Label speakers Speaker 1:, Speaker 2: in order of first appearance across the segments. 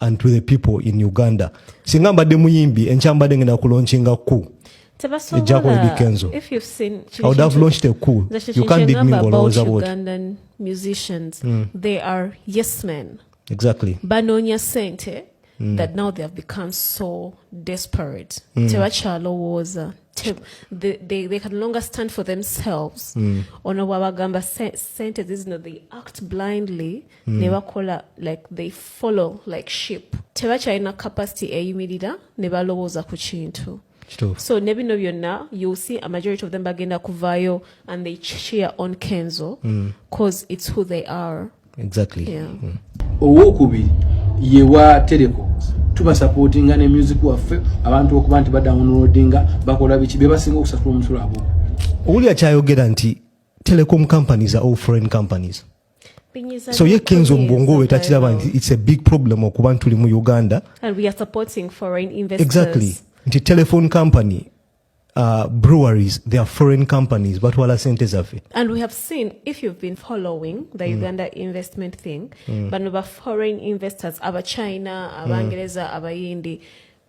Speaker 1: and to the people in uganda singa mbadde muyimbi enkya mbadde ngenda kulonkinga ku ejjako edi kenzo i
Speaker 2: would have launched a
Speaker 1: coup you can't dig me ngolowooza bwoti mm.
Speaker 2: they are yes men exactly banoonya
Speaker 1: sente
Speaker 2: mm. that now they have become so desperate mm. tebakyalowooza they, they, they can longer stand for themselves mm. ono bwabagamba sente zizino they act blindly mm. ne bakola like they follow like ship tebakyalina capacity eyimirira ne balowooza ku kintu so ne bino byonna you see a majority of them bagenda kuvaayo and they cheer on kenzo because mm. it's who they are exactly yeah.
Speaker 1: mm.
Speaker 3: owokubiri ye wa teleko tubasapotinga ne music waffe abantu okuba nti badownloadinga bakola biki bebasinga okusasula omusula abo owuli akyayogera
Speaker 1: nti telecom companies are all foreign companies so ye kenzo mbwongo we takiraba nti its a big problem okuba ntuli mu uganda
Speaker 2: exactly nti
Speaker 1: telephone company uh, breweries they are foreign companies batwala sente zaffe and we have seen
Speaker 2: if you've been following the mm. uganda investment thing mm. bano ba foreign investors abachina abangereza mm. abayindi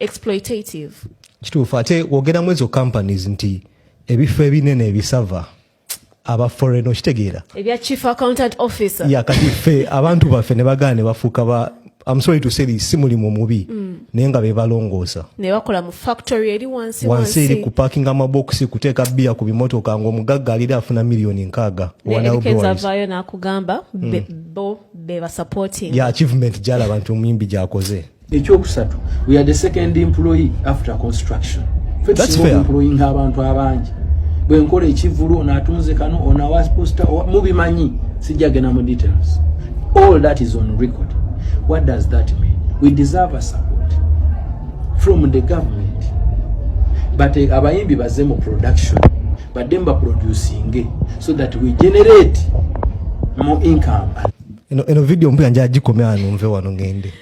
Speaker 2: exploitative kituufu
Speaker 1: ate wogeramu ezo companies nti ebifo ebinene ebisava aba foreign okitegeera ebya chief accountant
Speaker 2: officer ya kati ffe
Speaker 1: abantu baffe ne bagaana ne bafuuka ba I'm sorry to say this si mulimu mubi mm. naye nga bebalongoosa nebakola mu
Speaker 2: factory eri wansi wansi eri ku parking
Speaker 1: amabox kuteeka bia ku bimotoka nga omugagga alira afuna milioni nkaaga wanaekezavayo
Speaker 2: nakugamba mm. bo bebasupporting ya achievement gyalaba
Speaker 1: nti omuyimbi gyakoze ekyokusatu
Speaker 3: we are the second employee after construction
Speaker 1: employing abantu
Speaker 3: abangi bwenkola ekivulu ono atunze kano ono awa posta mubimanyi sijjagenda mu details all that is on record what does that mean we deserve a support from the government but eh, abayimbi baze mu production badde mu baproducinge so that we generate more income eno video
Speaker 1: mbuya njagikomya numve wano ngende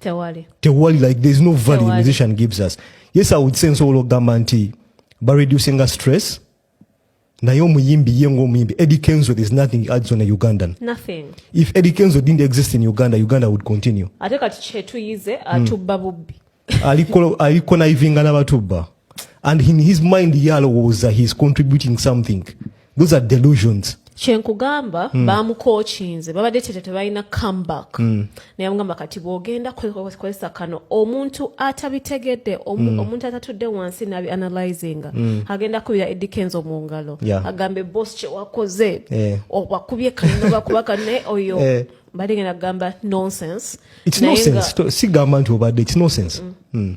Speaker 1: tewali tewali like there is no value tewali. musician gives us yes i would say nsobola okugamba nti ba reducinga stress naye omuyimbi ye ngaomuyimbi eddie kenzo there's nothing adds on a ugandan nothing if
Speaker 2: eddie kenzo
Speaker 1: didn't exist in uganda uganda would continue ate kati kyetuyize
Speaker 2: hmm. atubba mm. bubbi aliko
Speaker 1: naivinga nabatubba and in his mind yalowooza he's contributing something those are delusions kyenkugamba
Speaker 2: mm. bamukokinze babadde kyekyo tebalina comeback mm. naye amugamba kati bwogenda kozesa kano omuntu atabitegedde mm. omuntu atatudde wansi nabi analyzinga mm. agenda kubira edikenzo mu ngalo yeah. agambe bos kyewakoze yeah. obakubye kanobakuba kane oyo yeah. mbadde genda kugamba nonsense
Speaker 1: sigamba nti obadde its nonsense
Speaker 2: mm. Mm.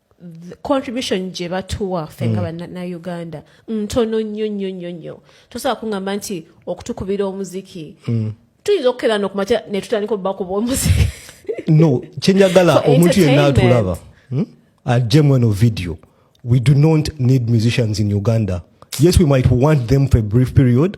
Speaker 2: contribution gye batuwa ffe nga mm. banauganda ntono nnyo nnyo nnyo nnyo tosobola kuŋamba nti okutukubira omuziki mm. tuyinza okukera nokumakya netutandika obubakuba omuziki no
Speaker 1: kyenyagala omuntu yenna atulaba hmm? ajje mweno video we do not need musicians in uganda yes we might want them for a brief period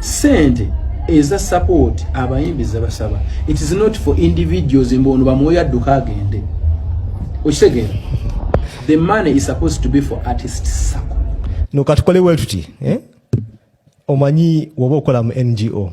Speaker 3: sente eza support abayimbi zebasaba it is not for individuals mbu ono bamwoyo adduka agende okitegeera the money is supposed to be for artist sako no katukole
Speaker 1: wetuti eh? omanyi woba okola mu ngo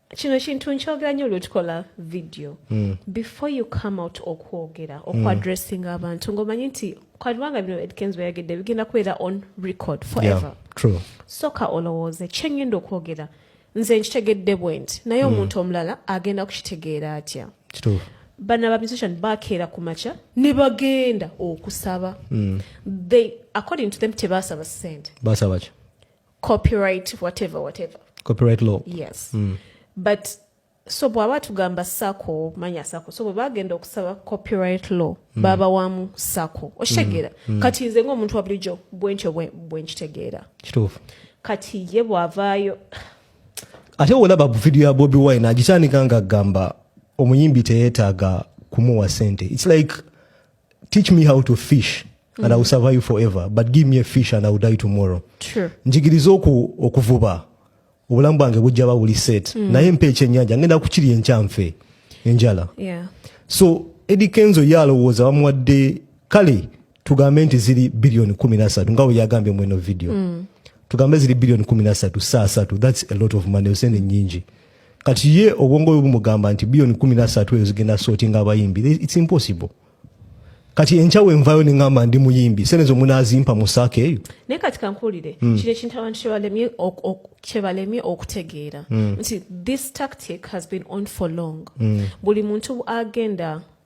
Speaker 2: kino kintu nkyogera nyo lwetukola video mm. before you come out okwogera hmm. okwadressinga mm. abantu ngaomanyi nti kwalibanga bino edkens weyagedde bigenda kubeera on record forever yeah, soka
Speaker 1: olowooze
Speaker 2: kyengenda okwogera nze nkitegedde bwenti naye hmm. omuntu mm. omulala agenda kukitegeera atya
Speaker 1: bana ba musician
Speaker 2: bakeera ku makya ne bagenda okusaba mm. they according to them tebasaba sente basaba ki
Speaker 1: copyright
Speaker 2: whatever whatever copyright law
Speaker 1: yes mm.
Speaker 2: but so bwaba tugamba sako manya sako so bwebagenda okusaba copyright law mm. babawamu sako okitegeera mm. mm. kati nze ngaomuntu wa bulijjo bwentyo bwenkitegeera kituufu
Speaker 1: kati ye
Speaker 2: bwavaayo
Speaker 1: ate olaba video ya bobi wine agitandika nga agamba omuyimbi teyetaaga kumuwa sente its like teach me how to fish and mm. I will survive forever but give me a fish and I will die tomorrow True. njigiriza
Speaker 2: oku,
Speaker 1: okuvuba obulamu bwange bujja ba buli set mm. naye mpa ekyennyanja ngenda kukirya enkyanfe enjala yeah. so Eddie Kenzo ye alowooza bamuwadde kale tugambe nti ziri biliyoni kumi nasatu nga weyagambye mweno video mm. tugambe ziri biliyoni kumi nasatu saa satu thats a lot of money osente nyingi kati ye obwongo bwe bumugamba nti biyoni kumi na satu eyo zigenda sotinga abayimbi its impossible kati enkya wenvayo neŋamba ndi muyimbi sente zo munazimpa mu saaka eyo naye kati kankuwulire
Speaker 2: mm. kino ekintu abantu kyebalemye okutegeera mm. nti this tactic has been on for long mm. buli muntu agenda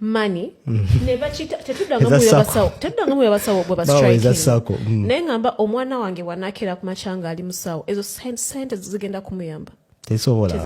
Speaker 2: money mm. nebakita tetuddangamu yabasawo bwe bastrike mm. naye ngamba omwana wange wanakera ku macanga ali musawo ezo
Speaker 1: sente
Speaker 2: zigenda kumuyamba tesobola